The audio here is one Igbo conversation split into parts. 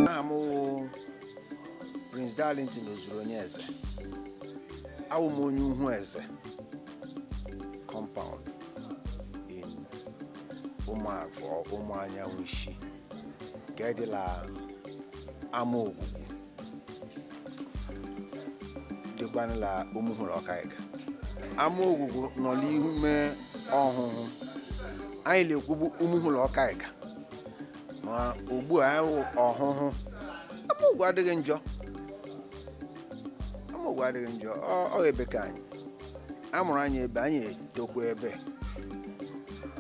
aha m wụ prince darlington ozuru onye eze awụ m onye uhu eze compound in ụmụagụ ụmụ anyanwụ isi nke dị la ama ogwugwu dịkwanụ la ụmụhụ la ọkaịụga ama ogwugwu nọ n'ime ọhụhụ anyị na-ekwubu ụmụhụ la ọkaịụga ma ugbu a anyị wụ ọhụhụ ama ogwu adịghị njọ ama ogwu adịghị njọ ọ ọ ebe ka anyị a mụrụ anyị ebe anyị etokwa ebe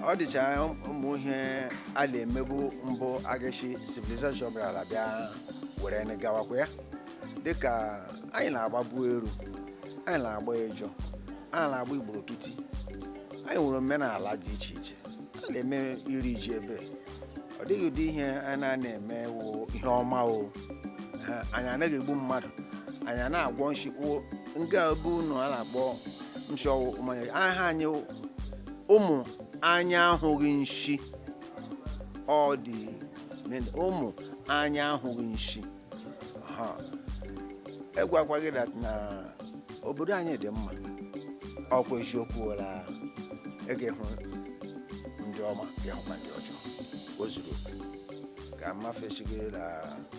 ọ dịcha ụmụ ihe a na-emebu mbụ aga shi civilization bịarala bịa were anyị gawakwa ya dịka anyị na-agbabu eru anyị na-agba ejọ anyị na-agba igborokiti anyị nwere omenala dị iche iche a na-eme iri ji ebe ọ dịghị ụdị ihe a na-ana eme wụ ihe ọma o anyị anaghị egbu mmadụ anyị ana agwọ nshi wụ nke a bụ unu a na-akpọ nshi ọwụ mmanya aha anyị wụ ụmụ anya ahụghị nshi ọ dị ụmụ anya ahụghị nshi Ha, egwakwa gị that na obodo anyị dị mma ọkwa eziokwu wela ị ga-ehụ ndị ọma ga-ehụkwa ndị ọjọọ o zuru oke. ka mmafesi gị na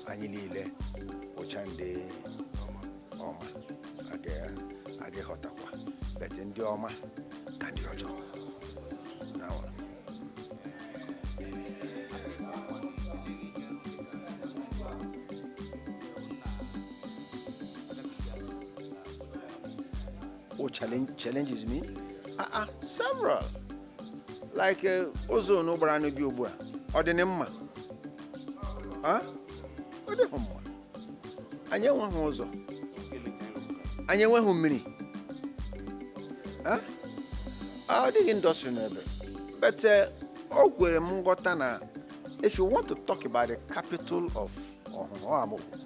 anyị niile wụcha ndị ọma aga ịghọtakwa but ndị ọma ka ndị ọjọọ What challenge, challenges me? Ah, ah, several. Like uh, ụzọ unu gbara na-abịa ugbu a, ọ dị unu mma? Ah? Ọ dịghị mma. anyị enweghị ụzọ anyị enweghị mmiri ọ dịghị industry n'ebe but eh, o kwere m nghọta na if you want to talk about the capital of ọhụhụ ama ogwu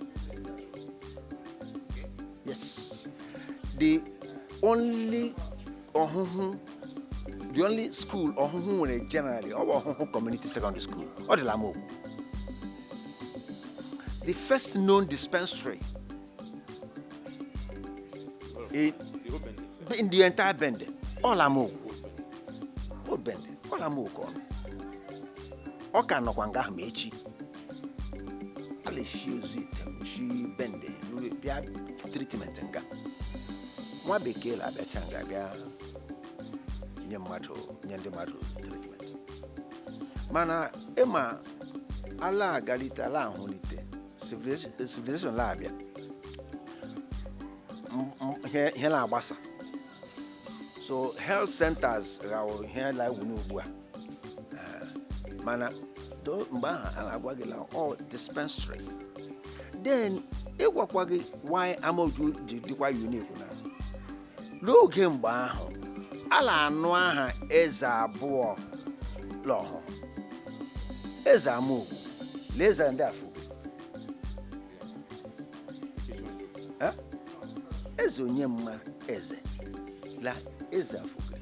yes the only ọhụhụ the only school ọhụhụ nwere generally ọ bụ ọhụhụ community secondary school ọ dị la ama ogwu the first known dispensary in, in the entire bende ọ la ama ogwu old bende ọ la ama ogwu ọ nọ ọ ka nọkwa nga ahụ ma echi a na-esi ozuitem si bende ruo bịa treatment nga nwa bekee la-abịacha nga bịa nye mmadụ nye ndị mmadụ treatment mana ịma a la-agalite a la-ahụlite civilization civilization la-abịa M- m- ihe ihe la-agbasa so health centers ghawụrụ ihe la-ewu n'ugbu a mana do- mgbe ahụ a la-agwa gị la ọ dispensary then ịgwakwa gị why amaogwu ji dịkwa unique na n'oge mgbe ahụ a la-anụ aha eze abụọ l'ọhụhụ eze amaogwu la eze ndị afugiri eze onye mma eze la eze afugiri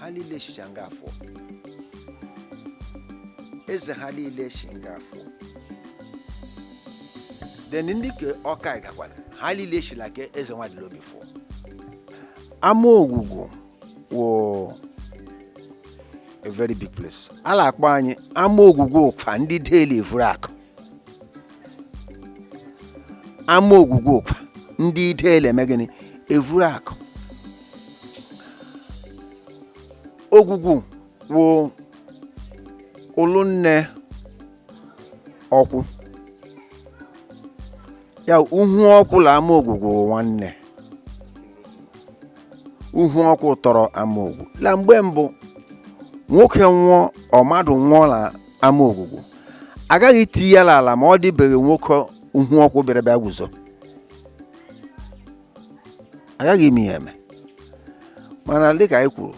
ha liile shicha nga a fụọ eze ha liile shi nga a fụọ then ndị ke ọkaiuga kwa ha liile shila ke eze nwadịlaobi fụọ ama ogwugwu wụ a very big place a la-akpọ anyị ama ogwugwu ụkwa ndị deli evuru akụ ama ogwugwu ụkwa ndị deli eme gịnị evuru akụ ogwugwu wụ ụlụ nne ọkwụ ya uhu ọkwụ la ama ogwugwu wụ nwanne uhu ọkwụ tọrọ ama ogwu la mgbe mbụ nwoke nwụọ ọ mmadụ nwụọ la ama ogwugwu agaghị iti ya l'ala ma ọ dịbeghị nwoke uhu ọkwụ bịara bịa guzo agaghị ime ya eme mana dịka anyị kwuru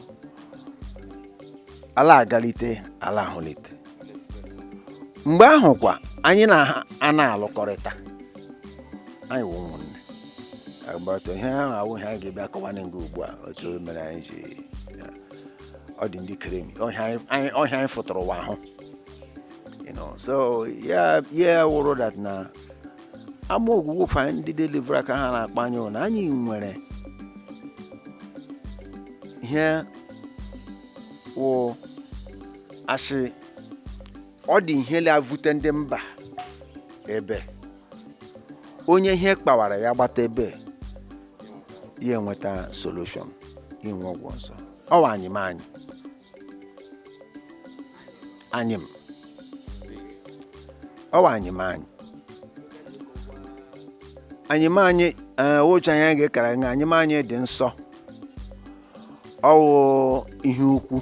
a la-agalite a la-ahụlite mgbe ahụ kwa anyị na ha a na-alụkọrịta anyị wụ ụmụnne agbata ihe ahụ awụ ihe anyị ga-abịa akọwa na nga ugbu a otu o mere anyị ji ya. ọ dị ndị kere emi ọ ihe anyị- anyị ọ ihe anyị fụtara ụwa hụ you know so ya ya wụrụ that na ama ogwugwu ụkwa ndị deli evuru akụ ha na-akpọ anyị wụ na anyị nwere ihe wụ asị ọ dị ihe la-evute ndị mba ebe onye ihe kpawara ya gbata ebe ya enweta solution inwe ọgwụ nsọ ọwa anyịm anyị anyịm ọwa anyịm anyị anyịm anyị ee, which anyị ga-ekara nga anyịm anyị dị nsọ ọ wụ ihe ukwu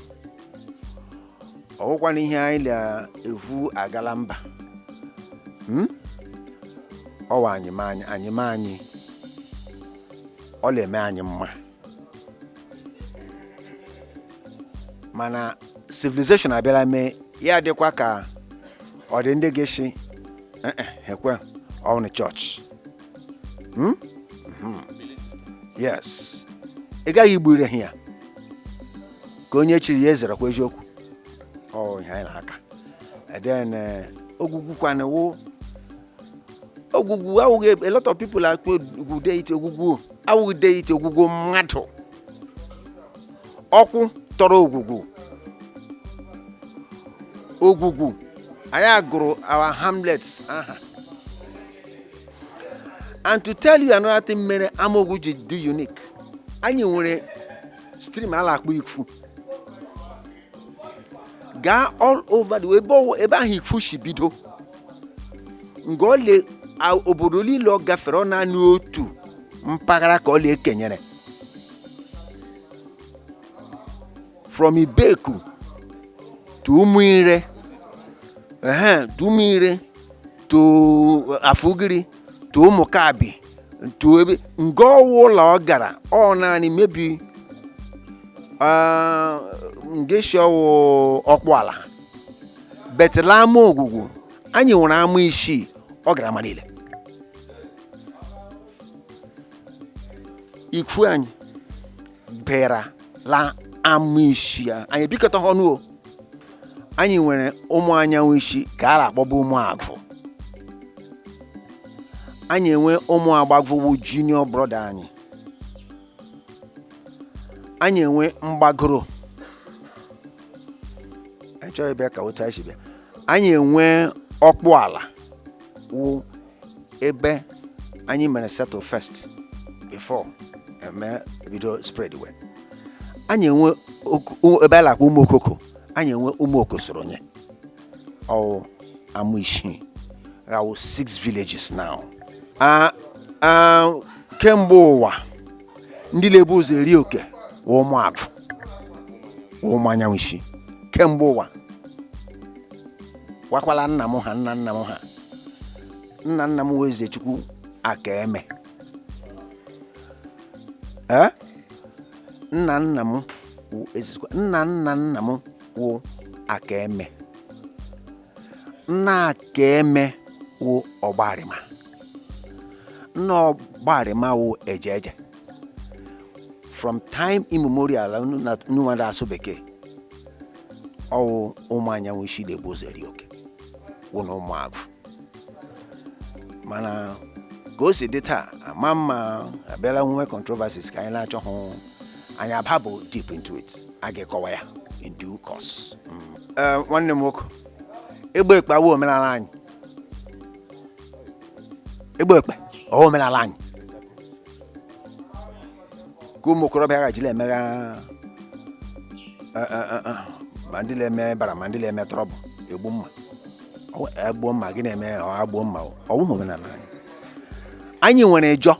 ọ wụkwanụ ihe anyị na-evu aga la mba Hmm? ọwa anyị ma anyị anyị ma anyị ọ na-eme anyị mma mana civilization abịara mee ya dịkwa ka ọ dị ndị ga-asị "Eh, eh, ekwe ọnụ chọọchị Hmm? Mhm. yes ị gaghị igbure ha ya ka onye chiri ya ezerekwa eziokwu ọ ihe anyị na-aka then eh, ogwugwu kwana wụ ogwugwu awụghị a lot of people akpọ ogwugwu deity ogwugwu awụghị deity ogwugwu mmadụ ọkwụ tọrọ ogwugwu ogwugwu anyị agụrụ our hamlets aha and to tell you another thing mere amaogwugwu ji dị unique anyị nwere stream a na-akpọ ikwu gaa all over the ebe ọwụ- ebe ahụ ikwu si bido nga ole a- obodo niile ọ gafere ọ naanị otu mpaghara ka ọ la-ekenyere from ibeku to ụmụire ehe to ụmụire to afugiri to ụmụkabi to ebe nga ọwụla ọ gara ọ naanị maybe ah, ngeshi ọwụ ọkpụala but la amaogwugwu anyị nwere ama isii ọ gara ama niile ikwu anyị bịara la ama isii anyị bikọta ọnụ o anyị nwere ụmụ anyanwụ isi ka a na-akpọba ụmụ agwụ anyị enwe ụmụ agbagwu wụ junior brother anyị anyị enwe mgbagoro anyị chọghị bịa ka otu anyị si bịa anyị enwe ọkpụala wụ ebe anyị mere settle first before eme bido spreadwe anyị enwe oku- o- ebe a na-akpọ ụmụ okoko anyị enwe ụmụ okosoronye ọwụ ama isii ha wụ six villages now Ah, ah, kemgbe ụwa ndị na-ebu ụzọ eri oke wụ ụmụ agwụ wụ ụmụ anyanwụ isi kemgbe ụwa wakwala nna m ha nna nna m ha nna nna m wụ ezechukwu akaeme ee nna nna m wụ ezechukwu nna nna nna m wụ akaeme nna akaeme wụ ọgbarịma nna ọgbarịma wụ eje eje from time immemorial unu na- unu nwere asụ bekee ọwụ ụmụ anyanwụ isi na-ebu ụzọ eri oke wụ na ụmụagụ mana ka o si dị taa ama mma abịala nwe controversies ka anyị na-achọghị anyị ababụ deep into it a ga-ekọwa ya in due course mm. eh, nwanne m nwoke ịgba ekpe awụ omenala anyị ịgba ekpe ọwụ omenala anyị ka ụmụ okorobịa ghajila emegha eh, eh, ma ndị na-eme bara ma ndị na-eme trouble egbu mma egbuo mma gị na-eme agbuo mma ọwụ omenala anyị anyị nwere ejọ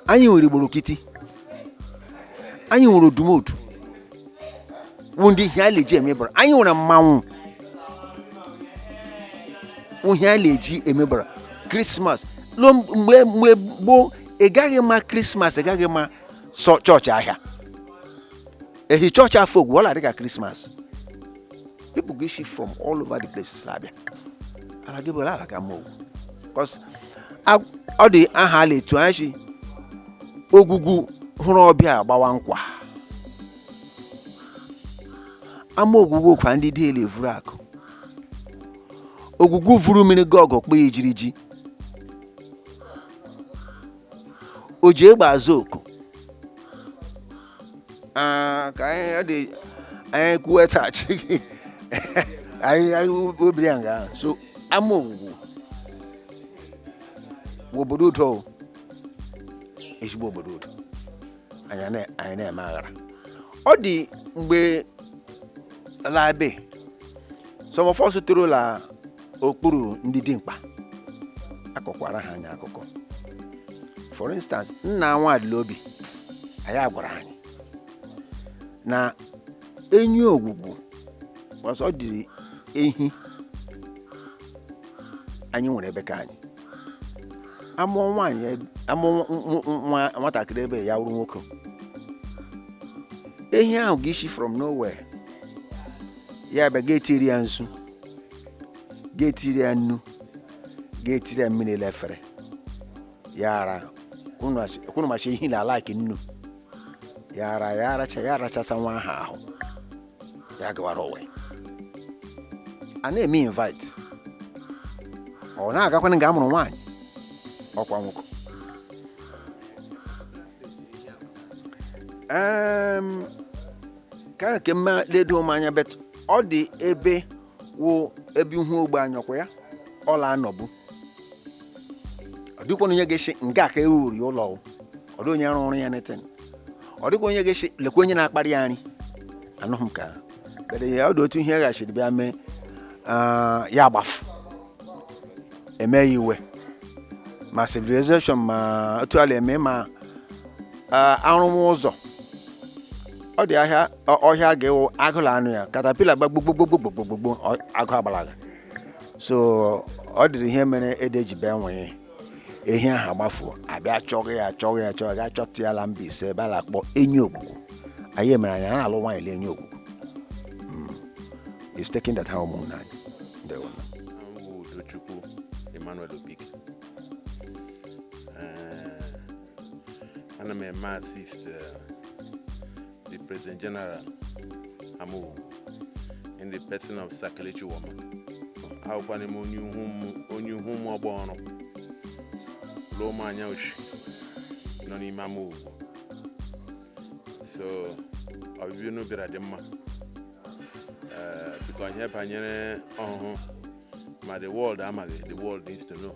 anyị nwere igborokiti anyị nwere odumodu wụ ndị ihe a na-eji emebara anyị nwere mmanwụ wụ ihe a na-eji emebara Christmas ruo mgbe mgbe gboo ị gaghị ma Christmas ị gaghị ma church ahịa ehi church afọ ogwugwu ọla dịka Christmas people ga-isi from all over the places na-abịa ala gị bụrụ ala ka amaogwugwu Because a- ọ dị aha a la-etu anyị sị ogwugwu hụrụ ọbịa gbawa nkwa amaogwugwu kwa ndị dị ele vuru akụ ogwugwu vuru mmiri ga ọgụ kpọ ya ejiri ji o ji egbe aza oku Ah, ka anyị ọ dị anyị kwuwetaghachi gị anyị anyị obiri ya nga ahụ. so amaogwugwu bụ obodo udo o. ezigbo obodo udo anyị na- anyị na-eme aghara ọ dị mgbe la ebe some of us toro la okpuru ndị dimkpa akọkwara ha anyị akụkọ for instance nna nwadịlaobi anyị agwara anyị na enyi ogwugwu sị ọ dịrị ehi anyị nwere ebe ka anyị amụọ nwaanyị ebe- amụọ nwa- nwa- nwa- nwatakịrị ebe ya wụrụ nwoke ehi ahụ ga-isi from nowhere ya bịa ga-etiri ya nzu ga-etiri ya nnu ga-etiri ya mmiri la efere ya ara unu asị- unu ma sị ehi na-alike nnu ya ara ya aracha ya arachasa nwa ahụ ahụ ya gawara onwe ya. a na-eme invite ọ na-agakwana nga a mụrụ nwaanyị ọkwa nwoke Em, ka a ke mma ledo m anya but ọ dị ebe wụ ebe ihu ogbe anyọkwa ya ọ la-anọbu ọ dịkwa onye ga-asị nga a ka e wuuru ụlọ o. ọ dị onye rụrụ ya anything ọ dịkwa onye ga-asị lekwa onye na-akparị ya nri anụghị m ka but ọ dị otu ihe ghachiri bịa mee ah, ya agbafu eme ya iwe ma civilization ma otu a la-eme ma ah, a rụwa ụzọ ọ dị ahịa ọ- ọhịa a ga-ewu agụ la-anụ ya caterpillar gbagbogbogbogbogbogbogbo agụ agbalaga so ọ dịrị ihe mere ede ji bịa nwee ehi ahụ agbafuo a bịa chọga ya chọga ya chọga ya gaa chọta ya la Mbaise ebe a na-akpọ Enyiogugu ọ ya mere anyị a na-alụ nwaanyị la Enyiogugu is taken that ha ụmụnna anyị ndewo M bụ Udochukwu Emmanuel Obike. Eh, Ana m eme assist eh, the President General Amaogwugwu in the person of Sir Kelechi Woma awụkwa m onye ihu m- onye ihu m ọgba ọrụ lụọ m anya uchi nọ n'ime Amaogwugwu so ọbịbịa unu bịara dị mma Eh, biko ihe banyere Ọhụhụ ma the world amaghị the world needs to know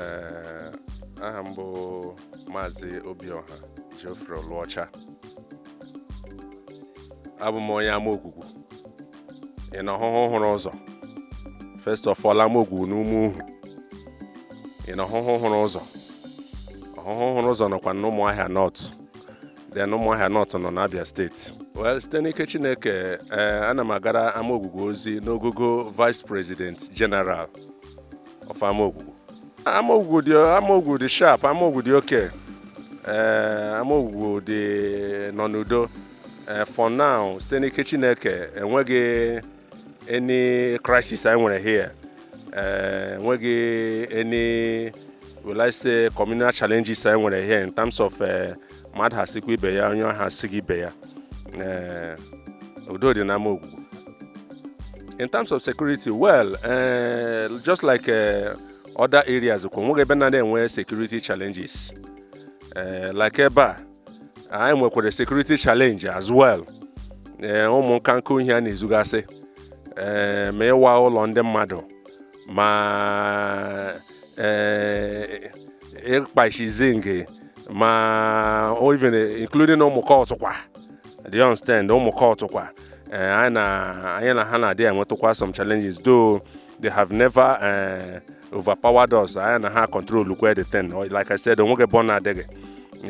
Ee, aha m bụ maazị Obiọha Geoffrey Oluocha abụ m onye Amaogwugwu in Ọhụhụ hụrụ ụzọ first of all Amaogwugwu n'Umuhu in Ọhụhụ hụrụ ụzọ Ọhụhụ hụrụ ụzọ nọkwa n'Ụmụahịa North then Ụmụahịa North nọ n'Abia State well site n'ike Chineke ee ana m agara Amaogwugwu ozi n'ogogo vice president general of Amaogwugwu Amaogwugwu dị Amaogwugwu dị sharp Amaogwugwu dị okay ee Amaogwugwu dị nọ n'udo Eh, for now site n'ike Chineke enweghị any crisis anyị nwere here eh, enweghị any will I say communal challenges anyị nwere here in terms of eh, mmadụ ha sikwa ibe ya onye ha sighị ibe ya udo dị n'Amaogwugwu in terms of security well just like other areas kwa nweghị ebe na na-enwe security challenges like ebe a anyị nwekwara security challenge as well ee ụmụ nkanka ihe a na-ezugasị ee ma ịwa ụlọ ndị mmadụ ma ee ịkpasị zinc ma even including ụmụ cult kwa do you understand ụmụ cult kwa ee anyị na anyị na ha na-adị enwetụkwa some challenges though they have never eh, overpowered us anyị na-acontrolụkwa the thing Or like i said onweghị ebe ọ na-adịghị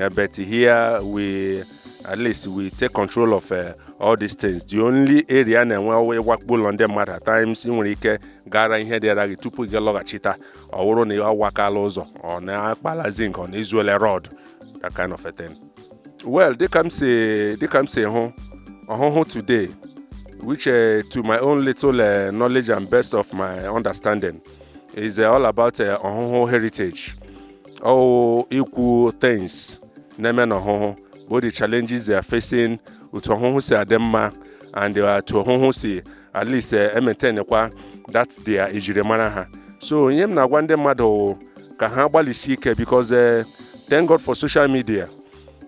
Eh, but here we at least we take control of eh, all these things the only area na-enwe ọ wụ ịwakpo ụlọ ndị mmadụ at times ị nwere ike gara ihe dịara gị tupu gị lọghachita ọ wụrụ na awakala ụzọ or na akpala zinc or na ezuola rod that kind of a thing well dịka m si dịka m si hụ ọhụhụ today which uh, to my own little uh, knowledge and best of my understanding is uh, all about uh, ọhụhụ heritage or ikwu things na-eme na ọhụhụ both the challenges they are facing otu ọhụhụ si adị mma and uh, otu ọhụhụ si at least emaintainikwa that their ejirimara ha so ihe m na-agwa ndị mmadụ wụ ka ha gbalịsi ike because eh, thank God for social media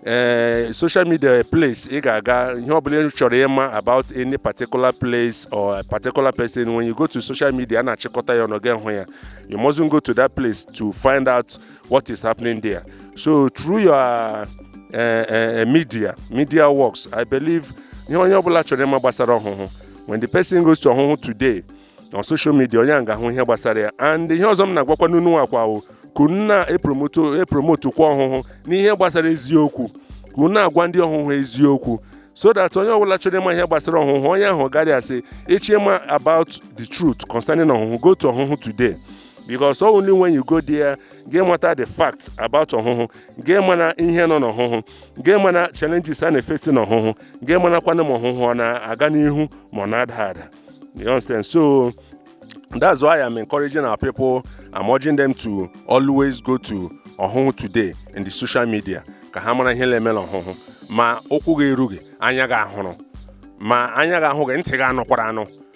eh, social media place ị ga-aga ihe ọbụla ị chọrọ ịma about any particular place or a particular person when you go to social media a na-achịkọta ya ọnụ gị hụ ya you mustn't go to that place to find out what is happening there. So through your uh, uh, media, media works, I believe ihe onye ọbụla chọrọ ịma gbasara ọhụhụ when the person goes to ọhụhụ today on social media onye a ga-ahụ ihe gbasara ya and ihe ọzọ m na-agwakwa unu wụkwa ka unu na-epromotekwa ọhụhụ n'ihe gbasara eziokwu ka unu na-agwa ndị ọhụhụ eziokwu so that onye ọbụla chọrọ ịma ihe gbasara ọhụhụ onye ahụ garị a sị ị chọọ ịma about the truth concerning ọhụhụ go to ọhụhụ today because only when you go there gị mata the fact about ọhụhụ gị mara ihe nọ n'ọhụhụ gị mara challenges a na-eface n'ọhụhụ gị marakwana ma ọhụhụ ọ na-aga n'ihu ma ọ na-ada ada you understand so that's why i'm encouraging our people i'm urging them to always go to ọhụhụ today in the social media ka ha mara ihe na-eme n'ọhụhụ ma ụkwụ gị erughị anya gị ahụrụ ma anya gị ahụghị ntị gị anụkwara anụ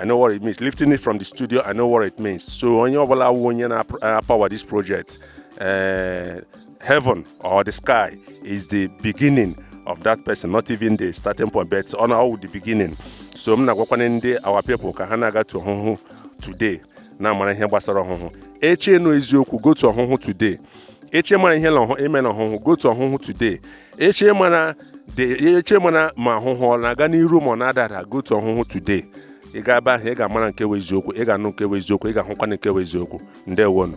I know what it means. Lifting it from the studio, I know what it means. So onye ọbụla wụ onye na-apower this project, uh, heaven or the sky is the beginning of that person, not even the starting point, but ọ na-awụ the beginning. So m na-agwakwana ndị our people ka ha na-aga to ọhụhụ today na-amara ihe gbasara ọhụhụ. Ị chọọ ịnụ eziokwu go to ọhụhụ today. Ị chọọ ịmara ihe na ọhụhụ, eme na ọhụhụ go to ọhụhụ today. Ị chọọ ịmara de eche mara ma ọhụhụ ọ na-aga n'iru ma ọ na-ada ada go to ọhụhụ today ị gaa ebe ahụ ị ga-amara nke wụ eziokwu ị ga-anụ nke wụ eziokwu ị ga-ahụkwa nke wụ eziokwu ndewonụ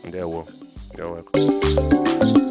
ndewo You're welcome.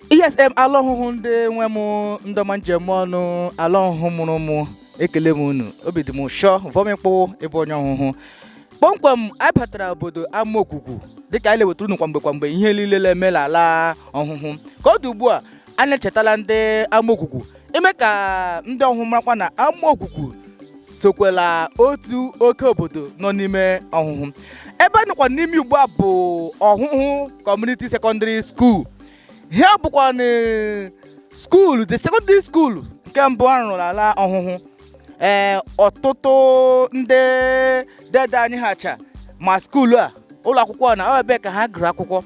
yes em ala ọhụhụ ndị nwe m ndị ọma m ji eme ọnụ ala ọhụhụ mụrụ mụ ekele m unu obi dị m ụshọ vọmịkpụ ịbụ onye ọhụhụ kpọmkwem anyị batara obodo Amaogwugwu dịka anyị na-ewetara unu kwamgbe kwamgbe ihe niile na-eme n'ala ọhụhụ ka ọ dị ugbu a anyị echetala ndị Amaogwugwu ime ka ndị ọhụhụ marakwa na Amaogwugwu sokwa la otu oke obodo nọ n'ime ọhụhụ ebe a nọkwa n'ime ugbu a bụ ọhụhụ kọmuniti sekọndịrị skuul ihe a bụkwa na skuulu the secondary school nke mbụ a rụrụ n'ala ọhụhụ ee ọtụtụ ndị dede anyị ha cha ma skuulu a ụlọ akwụkwọ na ọ wụ ebe a ka ha gụrụ akwụkwọ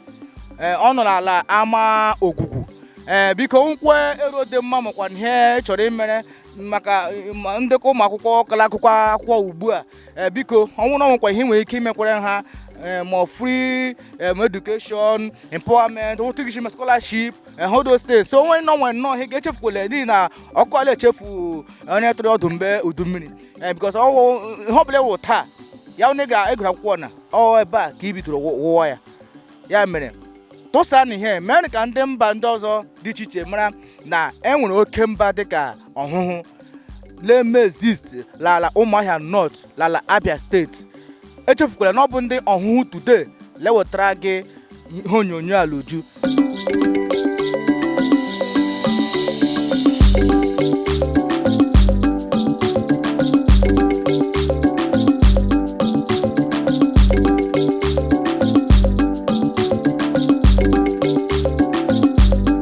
ee ọ nọ n'ala Amaogwugwu ee biko nkwe ero dị mma makwa na ihe chọrọ imere maka ma ndekọ ụmụ akwụkwọ ka la-agụ akwụkwọ ugbu a eh, biko ọ wụ na o nwekwa ihe nwere ike imekwara ha eh, ma free um, education empowerment otu gị ma scholarship all those things so onwe nọ nwe nnọọ ihe ga-echefukwala n'ihi na ọkụkọ ala echefu onye tụrụ ọdụ mgbe udu mmiri because ọwụ ihe ọbụla ị wụ taa ya onye gụrụ akwụkwọ na ọ ebe a ka i bidoro wụwa ya ya mere tụsa na ihe mere ka ndị mba ndị ọzọ dị iche iche mara na e nwere oke mba dịka ọhụhụ leme exist lala ụmụahịa North lala abia steeti echefukwala na ọ bụ ndị ọhụhụ today lewetara gị ihe onyonyo a l'uju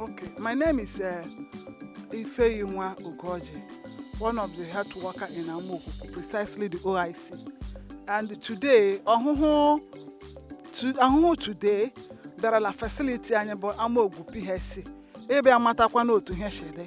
Okay, my name is uh, Ifeyinwa Ugoji, one of the health worker in Amaogwugwu, precisely the OIC. And today, ọhụhụ to, ọhụhụ today bịara na facility anyị bụ Amaogwugwu PHC. ịbịa matakwanụ otu ihe si dị.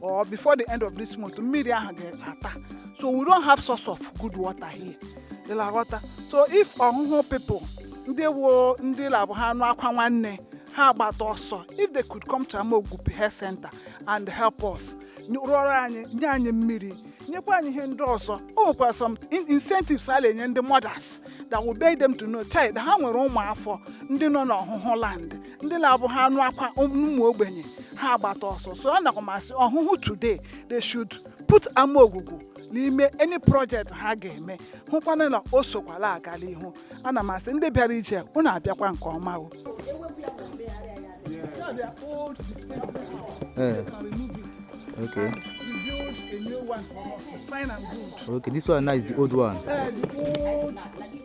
or before the end of this month mmiri ahụ ga-ata so we don't have source of good water here ị na-aghọta so if ọhụhụ people ndị wụ ndị la-abụ ha nụ akwa nwanne ha agbata ọsọ if they could come to Amaogwugwu health center and help us nye- rụọrọ anyị nye anyị mmiri nyekwa anyị ihe ndị ọzọ o nwekwara some in- incentives a na-enye ndị mothers that will make them to know chai ha nwere ụmụafọ ndị nọ n'ọhụhụ land ndị na-abụ ha nụ akwa ụmụ ogbenye ha agbata ọsọ so anakwa m asị Ọhụhụ Today they should put Amaogwugwu n'ime any project ha ga-eme hụkwana na o sokwa la-aga n'ihu ana m asị ndị bịara ije unu abịakwa nke ọma o Eh, okay. okay, this one now is the old one.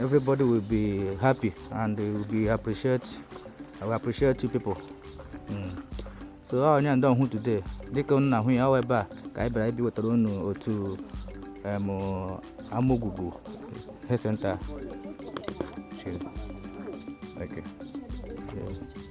Everybody will be happy and they will be appreciate. I will appreciate you people. Mm. So ọ onye ndị Ọhụhụ Today dịka unu na-ahụ ya ọ ebe a ka anyị bịara ịbịa iwetara unu otu em Amaogwugwu health center. Okay. Yeah.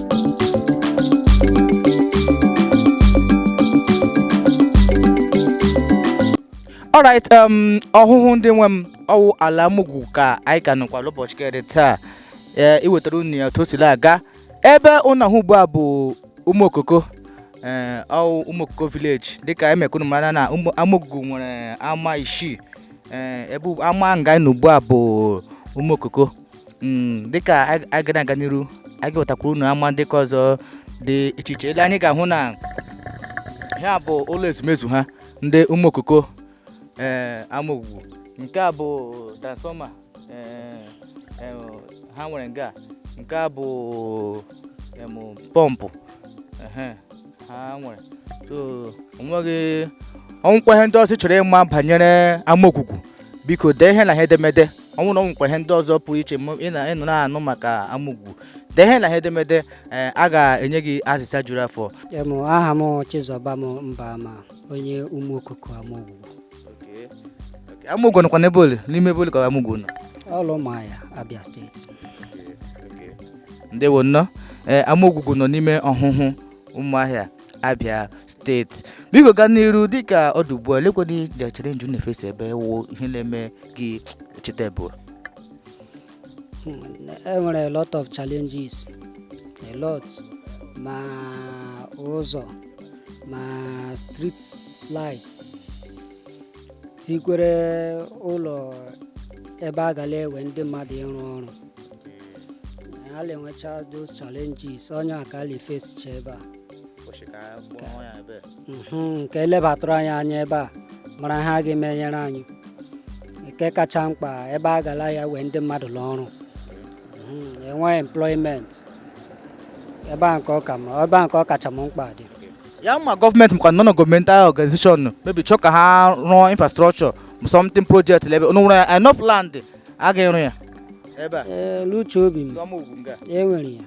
alright um Ọhụhụ ndị nwe m ọ wụ ala Amaogwugwu ka anyị ka nọkwa n'ụbọchị kere taa ee iwetara unu ya otu o si la-aga ebe unu na-ahụ ugbu a bụ Ụmụokoko ee ọ wụ Ụmụokoko village dịka eme ka unu mara na ụmụ- Amaogwugwu nwere ama isii ee ebe ama nga anyị nọ ugbu a bụ Ụmụokoko Mm, dịka a- a ga na-aga n'iru a ga-ewetakwuru unu ama ndị ka ọzọ dị iche iche ele anyị ga-ahụ na ha bụ ụlọ ezumezu ha ndị Ụmụokoko ee Amaogwugwu nke a bụ transfọma ee, em, ha nwere nga nke a bụ em, pọmpụ ehe, ha nwere so onweghị o nwekwa ihe ndị ọzọ ị chọrọ ịma banyere Amaogwugwu biko dee ihe n'ihe edemede ọ wụrụ na o nwekwa ihe ndị ọzọ pụrụ iche ị nọ na-anụ maka Amaogwugwu dee ihe n'ihe edemede eh, a ga-enye gị azịza juru afọ aha m Chizọbam Mbama onye Ụmụokoko Amaogwugwu Amaogwugwu nọkwa n'ebe ole n'ime ebe ole ka Amaogwugwu nọ ọ l'Ụmụahịa Abịa steeti ndewo nnọọ ee Amaogwugwu nọ n'ime Ọhụhụ Ụmụahịa Abịa steeti biko gaa n'iru dịka ọ dị ugbu a lekwena major challenge unu na-efesi ebe a wụ ihe na-eme gị cheta ebe ụra e nwere a lot of challenges a lot ma ụzọ ma street light tikwere ụlọ ebe a ga la-ewe ndị mmadụ ịrụ ọrụ a na-enwecha those challenges ọ ya ka a na-efesicha ebe a ụbọchị ka a gbaa ya ebe Mhm, ka e lebatụrụ anyị anya ebe a mara ihe a ga-emenyere anyị nke kacha mkpa ebe a ga la-ewe ndị mmadụ l'ọrụ Mhm, enweghị employment ebe a nke ọ ka ma ebe a nke ọ kacha m mkpa dị ya ma gọọmenti makwa non governmental organization maybe chọọ ka ha rụọ infrastructure something project lebe unu nwere enough land a ga-ịrụ ya ebe a Ee, luche obi m ọma ugwu nga enwere ya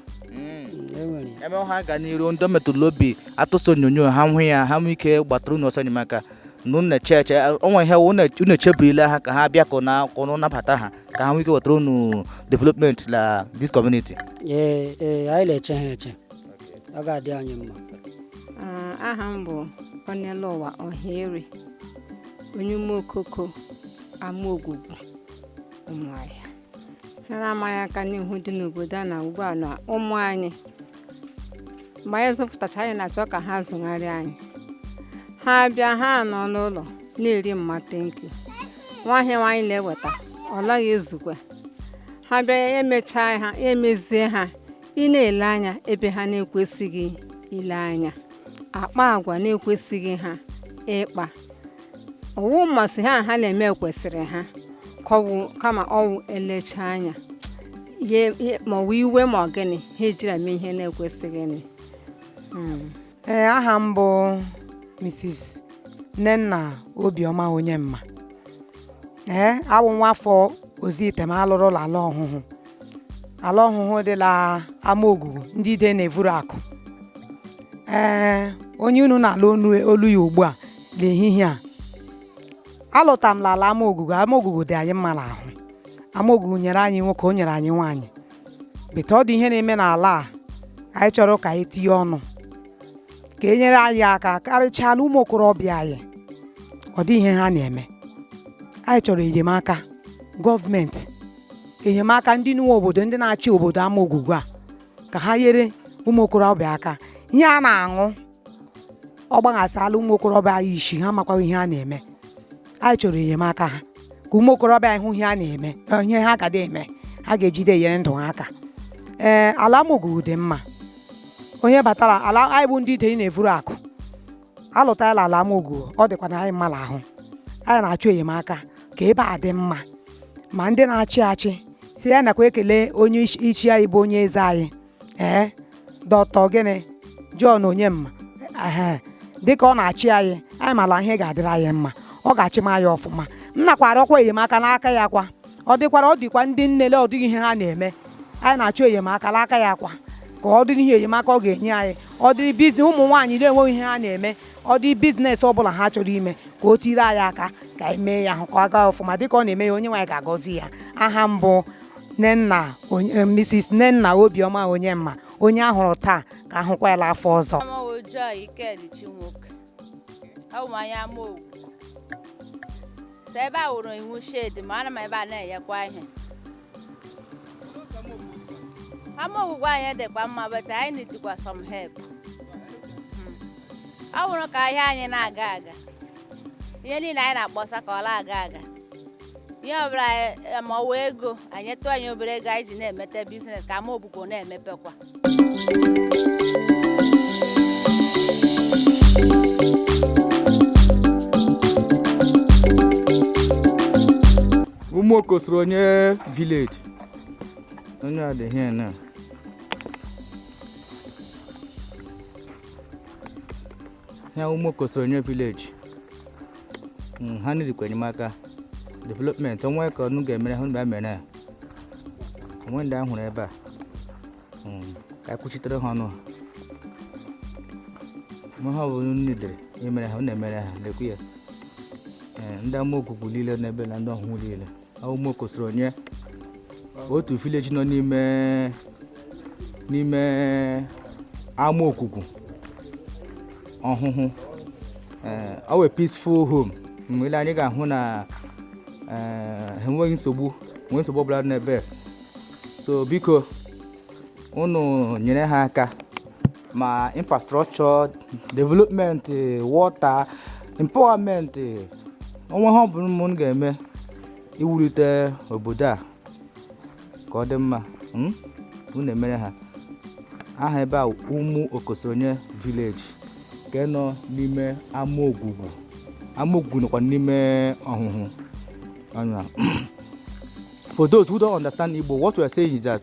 enwere ya ebe ha ga n'iru ndị metụrụ obi atụsị onyonyo ha hụ ya ha nwee ike gbatara unu ọsọ enyemaka na unu na-eche eche onwe ihe unu unu echeburila ha ka ha bịa ka na ka unu nabata ha ka ha nwee ike wetara unu development na this community ee ee anyị na-eche ha eche ọ ga-adị anyị mma Ah, aha m bụ ọnelụwa ọhaeri onye ụmụokoko amaogwugwu ụmụahịa ihe na-ama anyị aka n'ihu dị n'obodo a na ugbu a na ụmụ anyị mgbe anyị zụpụtacha anyị na-achọ ka ha zụgharịa anyị ha bịa ha nọ n'ụlọ na-eri mma thank you nwa ihe nwa anyị na-eweta ọ naghị ezukwe ha bịa ya emechaa ha ya emezie ha ị na-ele anya ebe ha na-ekwesịghị ile anya akpa agwa na-ekwesịghị ha ịkpa ọ wụ mmasị ha ha na-eme kwesịrị ha ka ọ wụ kama ọ wụ elecha anya ya ya- ma ọ wụ iwe ma ọ gịnị ha ejira mee ihe na-ekwesịghị nị. Mm. ee aha m bụ mrs nnenna obiọma onyemma ee awụ nwa afọ ozuitem a lụrụ la ala ọhụhụ ala ọhụhụ dị la amaogwugwu ndị ide na-evuru akụ ee onye unu na-alụ olu ya ugbu a n'ehihie a alụta m l'ala amaogwugwu amaogwugwu dị anyị mma n'ahụ amaogwugwu nyere anyị nwoke o nyere anyị nwaanyị but ọ dị ihe na-eme n'ala a anyị chọrọ ka anyị tinye ọnụ ka e nyere anyị aka karịchaa na ụmụ okorobịa anyị ọ dị ihe ha na-eme anyị chọrọ enyemaka gọọmenti enyemaka ndị nwe obodo ndị na-achị obodo amaogwugwu a ka ha nyere ụmụ okorobịa aka ihe a na-aṅụ ọ gbaghasala ụmụ okorobịa anyị isi ha makwa ihe ha na-eme anyị chọrọ enyemaka ha ka ụmụ okorobịa anyị hụ ihe ha na-eme ihe ha ga eme ha ga-ejide enyere ndụ ha aka ee ala amaogwugwu dị mma onye batara ala anyị bụ ndị ide na-evuru akụ alụtala ala amaogwugwu ọ dịkwa na anyị mma n'ahụ anyị na-achọ enyemaka ka ebe a dị mma ma ndị na-achị achị si ya nakwa ekele onye isi anyị bụ onye eze anyị ee doctor gịnị John Onyema ee dịka ọ na-achị anyị anyị mara ihe ga-adịrị anyị mma ọ ga-achịma anyị ọfụma m nakwa arịọkwa enyemaka n'aka ya kwa ọ dịkwara ọ dịkwa ndị nnele ọ dịghị ihe ha na-eme anyị na-achọ enyemaka n'aka ya kwa ka ọ dịrị ihe enyemaka ọ ga-enye anyị ọ dịrị business ụmụ nwaanyị na-enweghị ihe ha na-eme ọ dị business ọ bụla ha chọrọ ime ka o tiri anyị aka ka anyị mee ya ahụ ka ọ gaa ọfụma dịka ọ na-eme ya onyenwe anyị ga-agọzi ya aha m bụ Nnenna onye- eh, Mrs. Nnenna Obiọma Onyemma onye a hụrụ taa ka a hụkwa ya afọ ọzọ Aha m wụ Joy Ikedichi Nwoke. Abụ m onye Amaogwugwu. So ebe a wụrụ iwu shade ma ana m ebe a na-enyekwa ihe. Amaogwugwu anyị dịkwa mma but anyị nidikwa some help. Mm. Ọ wụrụ ka ahịa anyị na-aga aga. Ihe niile anyị na-akpọsa ka ọ na-aga aga. ihe ọbụla anyị- ma ọ wụ ego anyị tụọ anyị obere ego anyị ji na-emete business ka Amaogwugwu na-emepekwa Ụmụokosoronye village onye adịghị na ya Ụmụokosoronye village hmm, ha nidikwa enyemaka development o nwee ka unu ga-emere ha mgbe mere o nwee ndị a hụrụ ebe a hmm, ka kwuchitere ha ọnụ ma ihe ọbụla nidiri emere ha unu emere ha lakwa ndị Amaogwugwu niile n'ebe na ndị Ọhụhụ niile onye otu village nọ n'ime n'ime Amaogwugwu Ọhụhụ eh, our peaceful home mgbe i lee anya ị ga-ahụ na eh, enweghị nsogbu nwee nsogbu ọbụla n'ebe so biko unu nyere ha aka ma infrastructure development water empowerment o nwee ihe ọbụla unu ga-eme iwulite obodo a ka ọ dị mma hmm? unu emere ha aha ebe a Ụmụokosoronye village nke nọ n'ime Amaogwugwu Amaogwugwu nọkwa n'ime Ọhụhụ and for those who don't understand Igbo what we are saying is that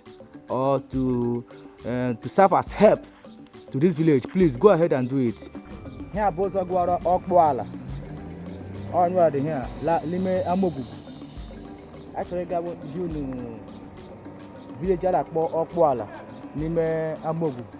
or to uh, to serve as help to this village please go ahead and do it ihe a bụ ụzọ gara Ọkpụala ọnyụa dị ihe a la- n'ime Amaogwugwu a chọrọ igosi unu village a na-akpọ Ọkpụala n'ime Amaogwugwu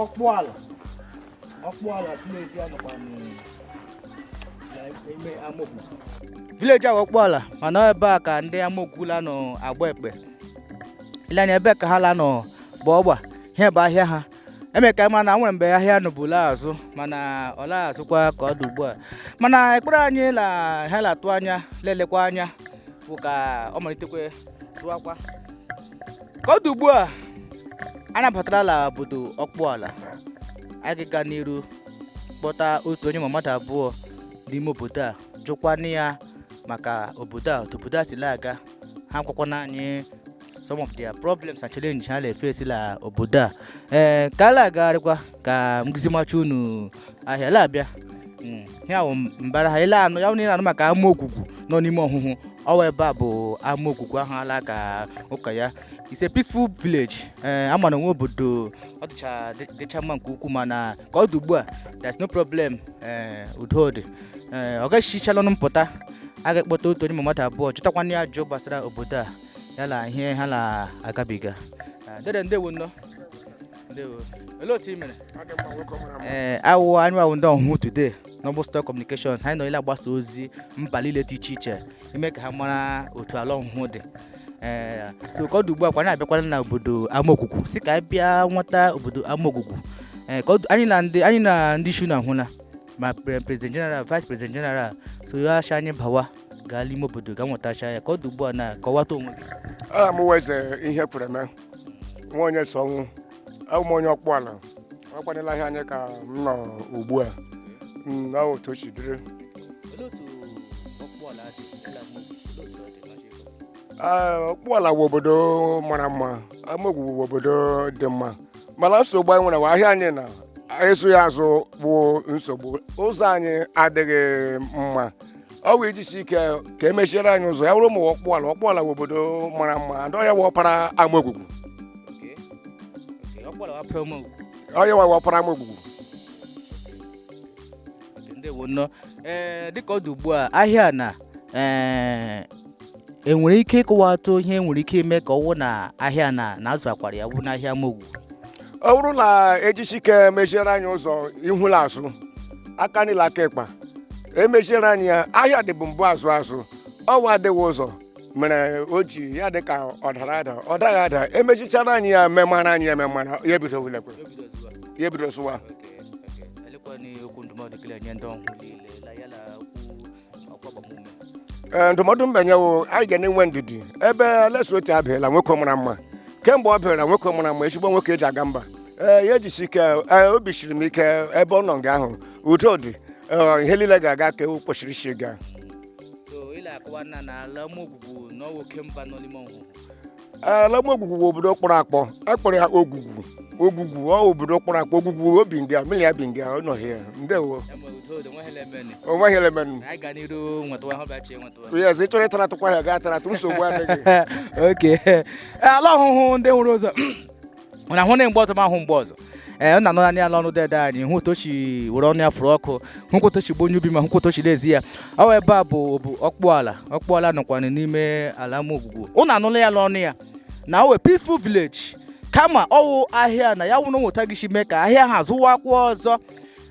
Ọkpụala Ọkpụala village a nọkwa n'ime Amaogwugwu village a wụ Ọkpụala mana ebe a ka ndị Amaogwugwu la-anọ agba ekpe i lee anya ebe ka ha la-anọ bụ ọgba ihe bụ ahịa ha eme ka a ma na e nwere mgbe ahịa nọbu la azụ mana ọ la azụkwa ka ọ dị ugbu a mana ekpere anyị na ha la-atụ anya la-elekwa anya bụ ka ọ malitekwe zụwakwa ka ọ dị ugbu a anyị abatara la obodo Okpuala anyị ga-aga n'iru kpọta otu onye ma mmadụ abụọ n'ime obodo a jụkwana ya maka obodo a otu obodo a si la-aga ha akọkwana anyị some of their problems and challenges ha na-efesi la obodo a ee ka a la-agagharịkwa ka m zimacha unu ahịa la abịa Mm, ya bụ mbara ha ile anụ ya bụ na ị na-anụ maka Amaogwugwu nọ n'ime Ohuhu ọ wụ ebe a bụ Amaogwugwu ahụ a la-aka ụka ya it's a peaceful village ee ama na nwe obodo ọ dịcha dị- dịcha mma nke ukwuu mana ka ọ dị ugbu a there's no problem ee udo dị ee ọ gaghịchichala ọnụ mpụta a ga-akpọta otu onye ma mmadụ abụọ jụtakwana ya ajụjụ gbasara obodo a ya la ihe ha na-agabiga dede ndewo nnọọ ndewo olee otu ị mere ee awụ anyị wụ ndị Ohuhu Today Noble Star Communications anyị nọ la-agbasa ozi mba niile dị iche iche ime ka ha mara otu ala Ohuhu dị ee so ka ọ dị ugbu a kwa anyị abịakwala na obodo Amaogwugwu sị ka anyị bịa nweta obodo Amaogwugwu ee ka ọ dị- anyị na ndị anyị na ndị ishi unu ahụla ma pre- president general vice president general so ya ashị anyị bawa gaa n'ime obodo ga nwetacha ya ka ọ dị ugbu a na kọwata onwe gị aha m wụ Eze Ihekwereme nwa Onyesoọnwụ awụ m onye Okpuala akwanyela ahịa anyị ka m nọ ugbu a Mm, na otu o si dịrị olee otu Okpuala dị ala Igbo? Olee otu ọ dị maka ịkọ? Ah, Okpuala wụ obodo mara mma Amogwu wụ obodo dị mma mana nsogbu anyị nwere bụ ahịa anyị na ịzụ ya azụ bụ nsogbu ụzọ anyị adịghị mma ọ wụ ijisi ike ka e meziere anyị ụzọ ya wụrụ ụmụ Okpuala Okpuala wụ obodo mara mma ndị ọ ya wụ ọpara Amaogwugwu ọ ya wụ ọpara Amaogwugwu ndewo nnọọ ee dịka ọ dị ugbu a ahịa na ee enwere ike ịkọwatụ ihe nwere ike ime ka ọ wụ na ahịa na na zụwakwara ya bụ n'ahịa Amogwu ọ bụrụ na e jisi ike meziere anyị ụzọ ihu la azụ aka nri la aka ịkpa e meziere anyị ya ahịa dịbụ mbụ azụ azụ ọ wụ adịghị ụzọ mere o ji ya dị ka ọ dara ada ọ daghị ada e mezichara anyị ya memara anyị ya memara ya ebido wulekwe ya ebido zụwa ee ndụmọdụ m ga-enye wụ anyị ga na-enwe ndidi ebe Alex Otti abịala nwoke mara mma kemgbe ọ bịara nwoke mara mma ezigbo nwoke eji aga mba ee ya ejisi ike ee, obi siri m ike ebe ọ nọ nga ahụ udo dị ee, ihe niile ga-aga ka o kwesịrị isi gaa so ị la-akọwa na na ala mụ bụ na ọ wụ oke mba nọ n'ime Ohuhu ala amaogwugwu bụ obodo kpọrọ akpọ akpọrọ ya ogwugwu ogwugwu ọ obodo kpọrọ akpọ ogwugwu o bi nga mmiri ya bi nga ọ nọ hịa ndewo o nweghị ihe la-eme nụ yes ị chọrọ ịtara atụkwa ya gaa tara atụ nsogbu adịghị okay ala ọhụhụ ndị nwere ụzọ na ahụ na mgbe ọzọ ma ahụ mgbe ọzọ ee ụnụ anụla ya n'ọnụ dede anyị hụ otu o chi were ọnụ ya fụrụ ọkụ hụkwa otu o chi bụ onye obiọma hụkwa otu o chi n'ezi ya ọ ebe a bụ bụ ọkpụala ọkpụala nọkwana n'ime ala amaogwugwu ụnụ anụla ya n'ọnụ ya na ọ wụ peaceful village kama ọ wụ ahịa na ya wụrụ nwe otu a gịchi mee ka ahịa ha zụwakwa ọzọ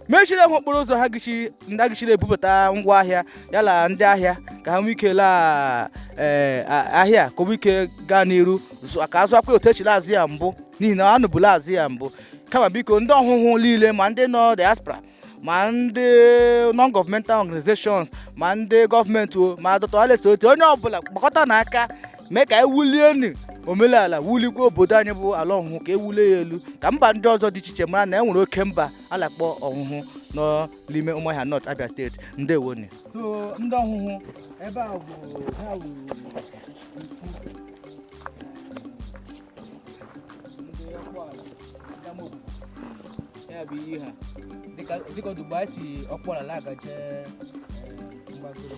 mechiri ha okporo ụzọ ha gịchi ndị agịchiri ebubata ngwa ahịa ya la ndị ahịa ka ha nwee ike laa ee, a- ahịa ka o nwee ike gaa n'iru zụ- ka a zụwakwa otu e chi la-azụ ya mbụ n'ihi na a nọbu la-azụ ya mbụ kama biko ndị ọhụhụ niile ma ndị nọ diaspora ma ndị non-governmental organizations ma ndị gọọmenti o ma dọtọales otu onye ọbụla gbakọta n'aka mee ka anyị wulienu omenala wulikwa obodo anyị bụ ala ọhụhụ ka e wulie ya elu ka mba ndị ọzọ dị iche iche mara na e nwere oke mba a na-akpọ ọhụhụ nọ n'ime ụmụahịa north abịa state ndewonu so ndị ọhụhụ ebe a bụ ha wuru ya bụ iyi ha dịka ọ dị ugbu a anyị si ọkpụala na-agaje mgbagoro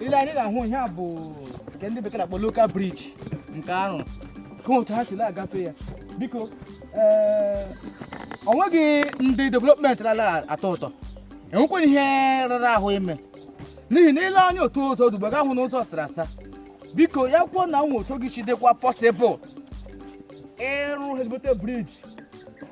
i lee anya ị ga-ahụ ihe a bụ nke ndị bekee na-akpọ local bridge nke ahụ ka otu ha si na-agafe ya biko eh, o nweghị ndị development na-ala atọ ụtọ e nwekwanụ ihe rara ahụ ime n'ihi na i lee anya otu ụzọ dị ugbu a ị ga-ahụ na ụzọ sara asa biko ya kwuo na nwe otu ọ gịchi dịkwa possible ịrụ ezigbote bridge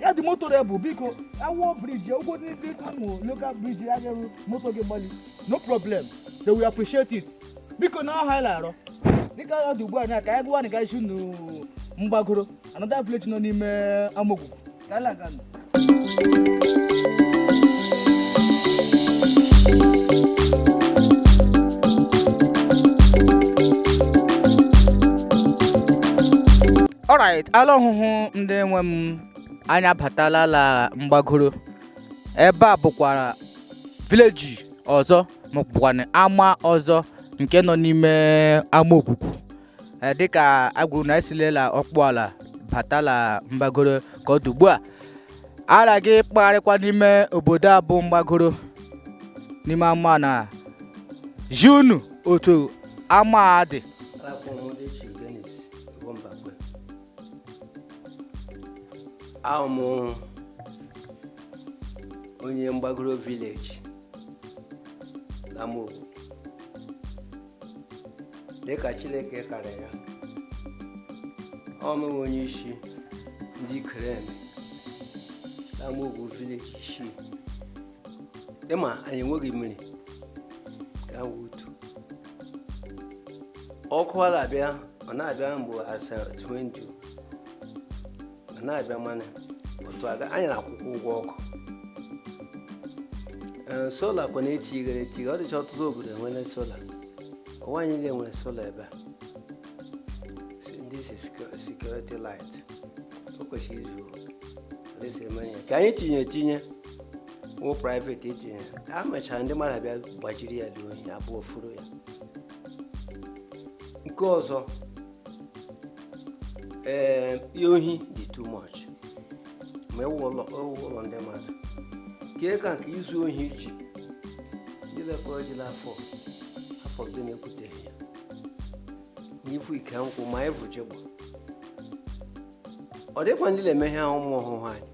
ya dị motorable biko a wụọ bridge ụgwọ ndị dị ụmụ local bridge ya ga-eru moto gị gbali no problem they will appreciate it biko na ọ ihe anyị la-arịọ dịka ọ dị ugbu a na ka anyị gawa na gaa zi unu mgbagoro another village nọ n'ime amaogwugwu ka anyị laga nụ alright ala ọhụhụ ndị nwe m anyị abatala ala mgbagoro ebe a bụkwara village ọzọ ma ọ bụkwanụ ama ọzọ nke nọ n'ime amaogwugwu eh, dịka a gwara unu e silela ọkpụala batala mgbagoro ka ọ dị ugbu a a la-aga ịkpagharịkwa n'ime obodo a bụ mgbagoro n'ime ama na-ezi unu otu ama a dị wụ Mbakwe awụ m onye mgbagoro vileji na Amaogwugwu dịka Chineke kara ya awụ m onye isi ndị Ikere na Amaogwugwu vileji isii ị ma anyị enweghị mmiri ka wee otu ọkụ ọ na-abịa ọ na-abịa mgbe asa 20 ọ na-abịa mana otu aga anyị na-akwụkwa ụgwọ ọkụ ee sola kwa na-etighere etighe ọ dịcha ọtụtụ obodo e nwere sola ọ wụ anyị niile nwere sola ebe a Si- this is secu- security light o kwesịrị izu oke. A sị e mere ya ka anyị tinye etinye wụ private etinye e mechara ndị mmadụ abịa gbajiri ya ndị ohi abịa vuru ya nke ọzọ ee ihe ohi dị too much ma ewu ụlọ ewu ụlọ ndị mmadụ kee ka nke izu ohi ji jilekwa ejila afọ afọ gị na-ekwuteghị ya n'ivu ike nkwụ ma ivu jigbọ ọ dịkwa ndị na-eme ihe ahụ ụmụ ọhụụ anyị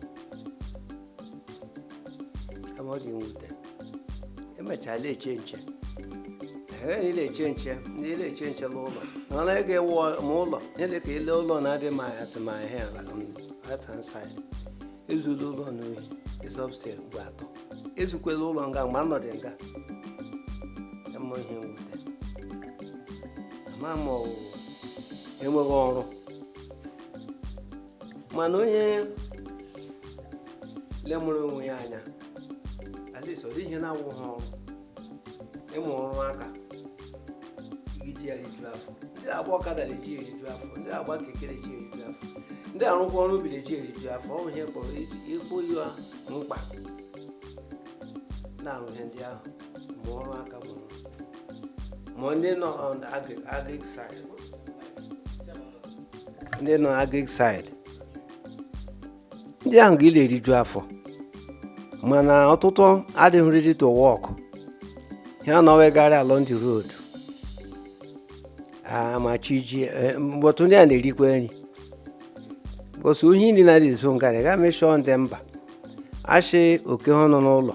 kama ọ dị mwute emechaa na-eche nche ehe ndị na-eche nche ndị na-eche nche n'ụlọ na ọ naghị ewu ma ụlọ nyere ka ị lee ụlọ na-adị ma aga Ụmụahịa la right hand side ezuola ụlọ m ohi ịzọbstel ugbo atọ ezukwela ụlọ nga mgbe anọdị nga ọ wụ ihe mwute ama m na enweghị ọrụ mana onye lemụrụ onwe ya anya at least ọ dịghị ihe na-awụghị ọrụ ịmụ ọrụ aka i ji ya riju afọ ndị agba ọkada na-eji ya eriju afọ ndị agba keke na-eji ya eriju afọ ndị arụkwa ọrụ ubi na-eji ya eriju afọ ọ bụ ihe kpọrọ ịkpọ ya mkpa na-arụ ihe ndị ahụ ma ọrụ aka mụrụ ma ndị nọ on agric agric side ndị nọ agrik side ndị ahụ ga la-eriju afọ mana ọtụtụ adịghị ready to work ha na-awagharị along the road ma chi jie but ndị a na-erikwa nri bọsụ ohi ndị na-adị ezu ngarị ga mention ndị mba a sị okay ha nọ n'ụlọ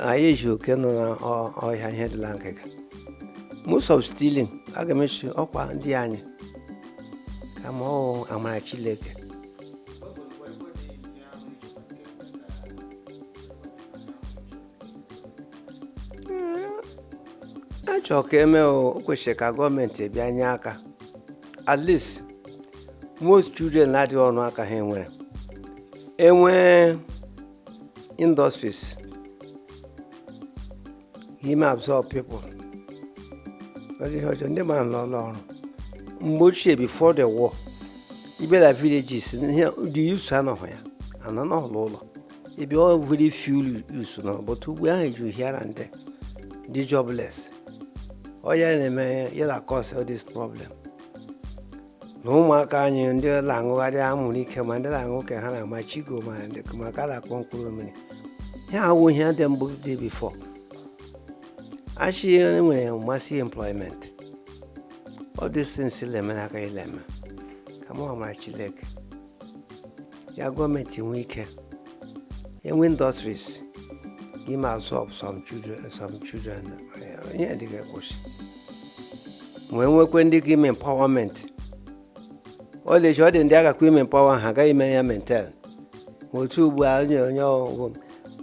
anyị ezi oke nọ n'ọhịa ihe dị la ngịga most of stealing a ga-eme sị ọkwa ndị anyị kama ọ amara Chineke achọrọ ka eme o kwesịrị ka gọọmenti bịa nye aka at least most children na-adịghị ọnụ aka ha nwere enwee industries ime absorb people ọdị ihe ọjọọ ndị mmadụ nọ n'ụlọ ọrụ mgbe ochie before the war ibela villages the youths anọghị ya anọ n'ụlọ ụlọ ebe ọ very few youths nọ but ugbu a ha eju here and there dị jobless ọ ya na-eme ya na cause all this problem na ụmụaka anyị ndị na-aṅụgharị anwụrụ ike ma ndị na-aṅụ ka ha na-ama chigo ma ndị ma nke a na-akpọ mkpụrụ mmiri ihe awụ ihe dị mbụ dị before a sị e nwere massive employment all these things la-eme akaghị la-eme kama ọ amara chineke ya gọọmenti nwee ike enwe industries ga-eme absorb some children some children eh, ihe ndị a ga-akwụsị ma enwekwe ndị ka ime empowerment ọ dị ọ dị ndị a gakwa ime empower ha agaghị eme ya maintain ma atụ ugbu a onye onye ọgwụ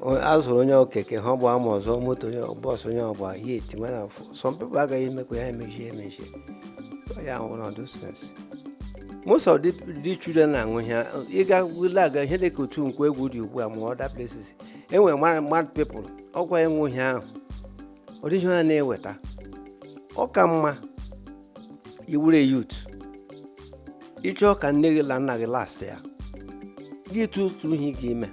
a zụrụ onye ọ keke ha ọgba ma ọzọ moto onye bus onye ọgba ya eti mana some people agaghị emekwa ya emechie emechie ya ṅụrụ those things most of the, the children na-aṅụ ihe ịga wule aga ihe dị ka otu Nkwọegwu dị ugbu a ma other places enwere mad mad people ọkwa ịṅụ ihe ahụ ọ dịghị ihe ha na-eweta ọ ka mma ị wụrụ youth ị chọọ ka nne gị na nna gị last ya gị tụtụ ihe ị ga-eme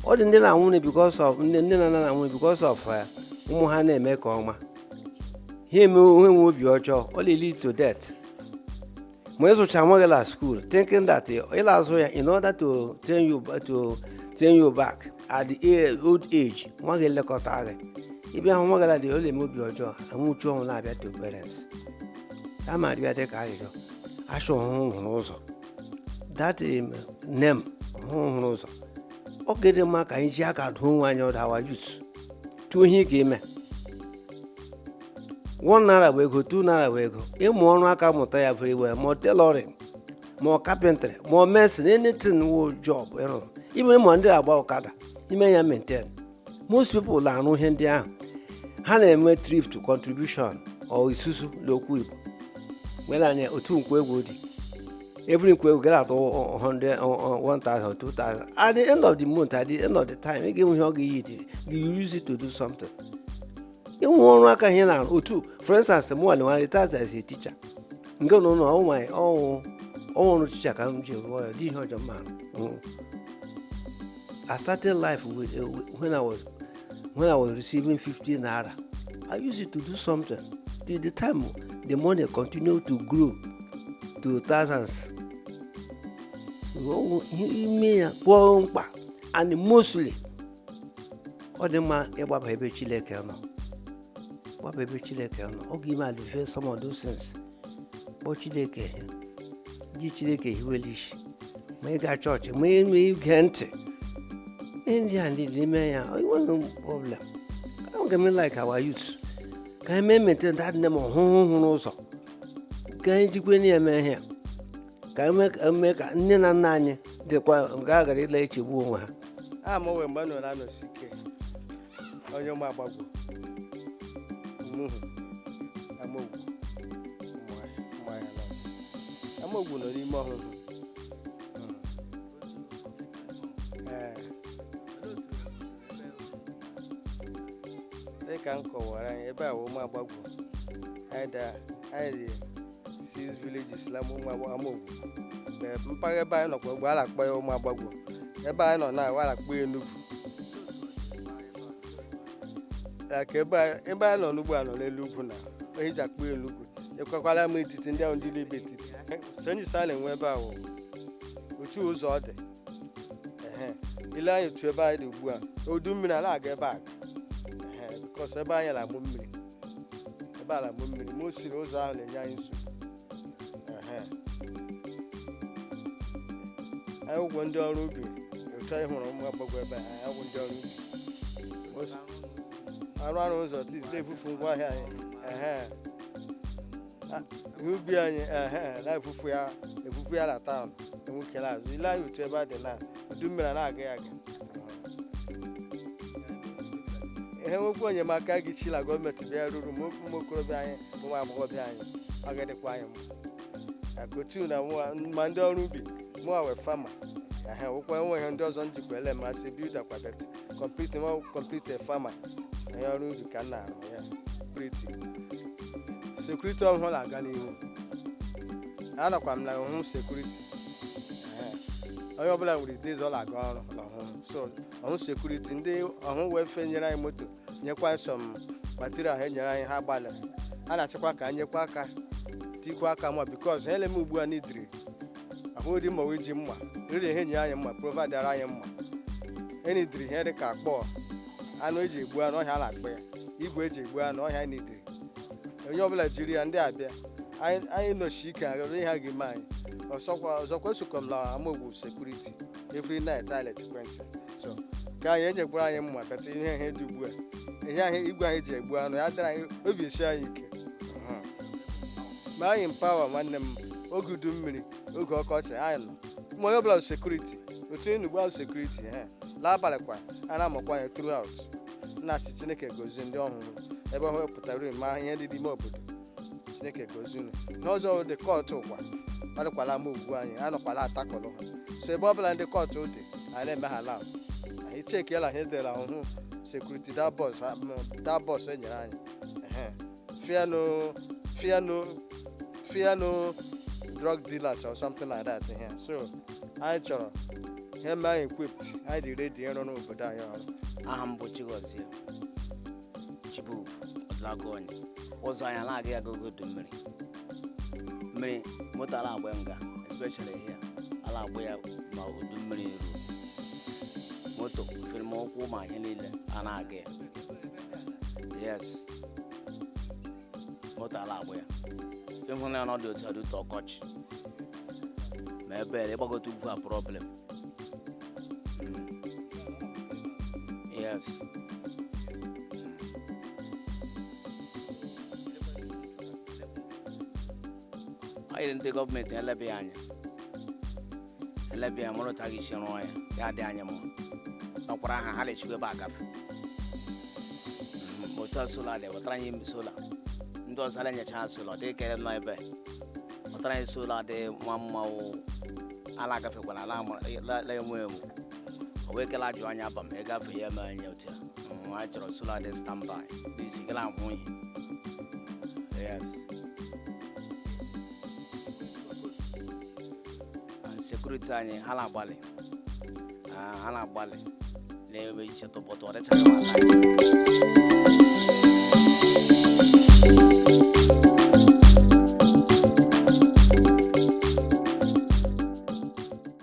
ọ dị ndị na-anwụrụ because of nne nne na nna na-anwụrụ because of eh, ụmụ ha na-eme nke ọma ha enwe obi ọjọọ ọ na-lead to death ma ịzụcha nwa gị la school thinking that ị la-azụ ya in order to train you to train you back at the old age nwa gị elekọta gị ịbịa hụ nwa gị la dị ọ na-eme obi ọjọọ anwụchu ọnwụ na-abịa to parents a ma dịbịa dị ka arịrịọ a chọ Ọhụhụ hụrụ ụzọ that name Ọhụhụ hụrụ ụzọ ọ ga-adị mma ka anyị ji aka dụọ onwe anyị ọdụ our youths tụọ ihe ị ga-eme one naira bụ ego two naira bụ ego ịmụ ọrụ aka mụta ya very well ma tailoring ma carpentry ma mason anything wụ job ịrụ ibe ma ndị agba ọkada i mee ya maintain most people na-arụ ihe ndị ahụ ha na-eme thrift contribution or isusu n'okwu igbo nwere anya otu nkwọegwu dị every nkwọegwu gara atụ 100 1000 2000 at the end of the month at the end of the time ị ga-enwe ihe ọ ga-eyi dị you use it to do something ịnwe ọrụ aka ihe na-arụ otu for instance mụnwa retired as a teacher nke nọ na ọnwa ọ wụ ọ wụ ọrụ teacher ka m ji rụọ ya dị ihe ọjọọ mma I started life with, uh, when I was when I was receiving 50 naira. I used it to do something. Till the time the money continued to grow to thousands. Ime ya kwụọ mkpa and mostly ọ dị mma ịgbaba ebe chineke nọ gbaba ebe chineke nọ ọ ga-eme alleviate some of those things kpọọ chineke ji chineke hiwe la isi ma ị gaa chọọchị ma ị nwee ige ntị ihe ndị a dị n'ime ya ọ nweghị problem ọ ga-eme like our youth ka anyị mee maintain that name ọhụhụ hụrụ ụzọ ka anyị jikwa na-eme ihe a ka eme ka eme ka nne na nna anyị dịkwa ga-aghara ịla echegbu onwe ha aha m wụ emmanuel anosike onye ụmụ agbagwo umuhu amaogwu mmanya amaogwu nọ n'ime ọhụhụ ee dịka m kọwara anyị ebe a wụ ụmụ agbagwo anyị dị anyị dị six villages na ụmụ agba- amaogwu Ee, mpaghara ebe anyị nọkwa ugbu a na-akpọ ya ụmụ agbagwo ebe anyị nọ na a na-akpọ ya enugwu Ya ka ebe anyị- ebe anyị nọ n'ugbu a nọ n'elu ugwu na ihe e ji akpọ ya enugwu ekwekwala m etiti ndị ahụ ndị dị ebe etiti challenges a na-enwe ebe a wụ otu ụzọ ọ dị Ehe. i lee anya otu ebe anyị dị ugbu a udu mmiri a na-aga ebe a Ehe, because ebe anyị na-amụ mmiri ebe a la-amụ mmiri mostly ụzọ ahụ na-enye anyị nsogbu Ehe. anyị wụgwo ndị ọrụ ubi otu anyị hụrụ ụmụ agbagwo ebe a anyị wụgwo ndị ọrụ ubi O si- arụ arụ ụzọ tiz na-evufu ngwa ahịa anyị Ehe. ihe ubi anyị ehe na-evufu ya evufu ya na taụn enwekela azụ i lee anya otu ebe a dị na udu mmiri a na-aga ya aga ihe nwekwa enyemaka ga-esi na gọọmenti bịa ruru ma okwu ụmụ okorobịa anyị ma ụmụ agbọghọbịa anyị ọ ga-adịkwa anyị mma na kotu na mụwa- ma ndị ọrụ ubi mụwa wụ farmer ehe nwekwa enwee ihe ndị ọzọ m jikwa ele masị builder kwabet kọmpliti ma kọmpliti fama na ya ọrụ ubi ka m na-arụ ya sekuriti ọhụhụ na-aga n'ihu anọkwa m na ọhụhụ sekuriti onye ọbụla nwere day ọ na-aga ọrụ na ọhụhụ so ọhụhụ sekuriti ndị ọhụhụ welfare nyere anyị moto nyekwa some material ha enyere anyị ha gbalịrị a na-achọkwa ka anyị nyekwa aka tikwa aka ma bikos ha eleme ugbu a n'idiri ahụghịdị mma wee ji mma riri ihe nye anyị mma providere anyị mma enyi diri ihe dị ka akpọ anụ eji egbu anụ ọhịa na-akpọ ya igwe eji egbu anụ ọhịa enyi diri onye ọbụla jiri ya ndị a bịa anyị nọchi ike agara ihe a ga-eme anyị ọzọkwa esokwa m na amaogwugwu sekuriti every night anyị lechekwa ntị so ka anyị enyekwara anyị mma bata ihe dị ugbu a ihe ahụ igwe anyị ji egbu anụ ya dịrị anyị obi esie anyị ike ma anyị mpawa nwanne m oge udu mmiri oge ọkọchị anyị nọ ma onye ọbụla bụ sekuriti otu enugbu ahụ sekuriti ha n'abalị kwa a na-amụkwa anya throughout na-asị chineke gozie ndị ọhụhụ ebe ọhụhụ pụtara uru ma ihe dị n'ime obodo chineke gozie unu n'ọzọ ndị kọtụ ụkwa kparịkwala amaogwugwu anyị anọkwala atakọlụ ha so ebe ọbụla ndị kọtụ dị anyị na-eme ha lab anyị chekiela ihe e dere ọhụhụ sekuriti that bus enyere anyị ehe fear no drug dealers or something like that here so anyị chọrọ ihe mee anyị equipped anyị dị ready ịrụrụ obodo anyị ọrụ aha m bụ chigozie chibuf ọdụlagụonye ụzọ anyị anaghị aga oge udu mmiri moto ala agba nga especially here ala agba ya ma udu mmiri ruo moto firi ma ụkwụ ma ihe niile a na-aga ya yes moto ala agba ya ịhụla ya na ọ dị otu ọ dị otu ọkọchị ma ebere ịgbagote ugwu a problem Mm. yes anyị ndị gọọmenti elebe ya anya elebe ya mara otu a ga-esi rụọ ya ya dị anyị mma nọkwara aha ha na-echikwa ebe agafe Mhm, otu a sola dị wetara anyị mbe sola ndị ọzọ ala nyecha ha sola dị kere nọ ebe wetara anyị sola dị nwa mma o ala agafekwala ala ama- la- la enwe enwe o wee kele ajụ anya aba m ịgafe ya eme anya otu a Mhm, anyị chọrọ sola dị standby dị isi gala ahụ ihe yes sekuriti anyị ha na-agbalị Ah, ha na-agbalị na-eme iche tụpụtụ ọ dịchaghị m aka anyị.